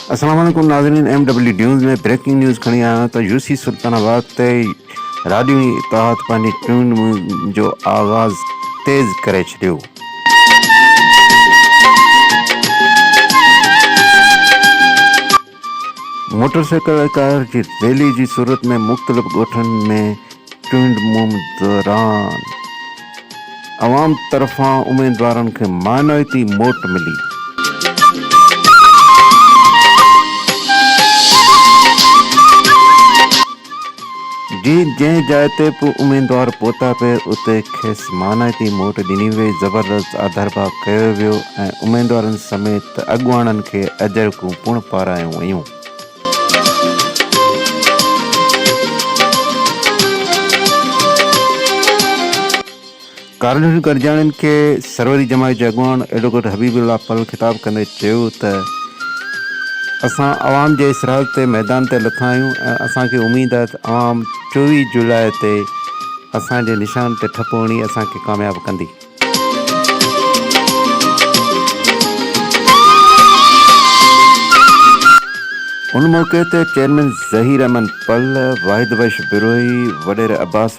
السلام عليڪم ناظرين M W news ۾ breaking news کڻي آيو آهيان ته يو سي سلطان آباد تي راڊيو اتحاد پنهنجي چونڊ مهم جو آغاز تيز ڪري ڇڏيو موٽر سائيڪل ۽ ڪار جي ريلي جي صورت ۾ مختلف ڳوٺن ۾ چونڊ مھم دوران عوام طرفان اميدوارن کي معنويتي موٽ ملي. جي جنهن جاء تي به اميدوار پهتا پي اتي کيس مانائتي موٽ ڏني وئي، زبردست آڌرڀاء ڪيو ويو ۽ اميدوارن سميت اڳواڻن کي اجرڪون پڻ پارايون ويون. ڪارنھن گڏجاڻين کي سروري جماعت جي اڳواڻ ايڊووڪيٽ حبيب الله پل خطاب ڪندي چيو ته اسان عوام جي اصرار تي ميدان تي لٿا آھيون ۽ اسان کي اميد آھي ته عوام چوويھ جولاء تي اسان جي نشان تي ٺپو ھڻي اسان کي ڪامياب ڪندي. ان موقعي تي چيئرمين ظھير احمد پل، واحد بخش بروھي، وڏيري عباس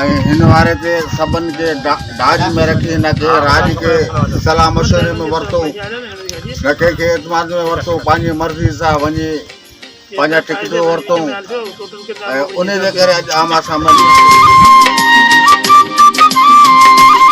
۽ هن واري تي سڀن کي ڊاج ۾ رکي نه ڪنهن راڄ کي صلاح مشوري ۾ ورتو نه ڪنهن کي اعتماد ۾ ورتو پنهنجي مرضي سان وڃي پنهنجا ٽڪيٽون ورتو ۽ ان جي ڪري اڄ عام آسان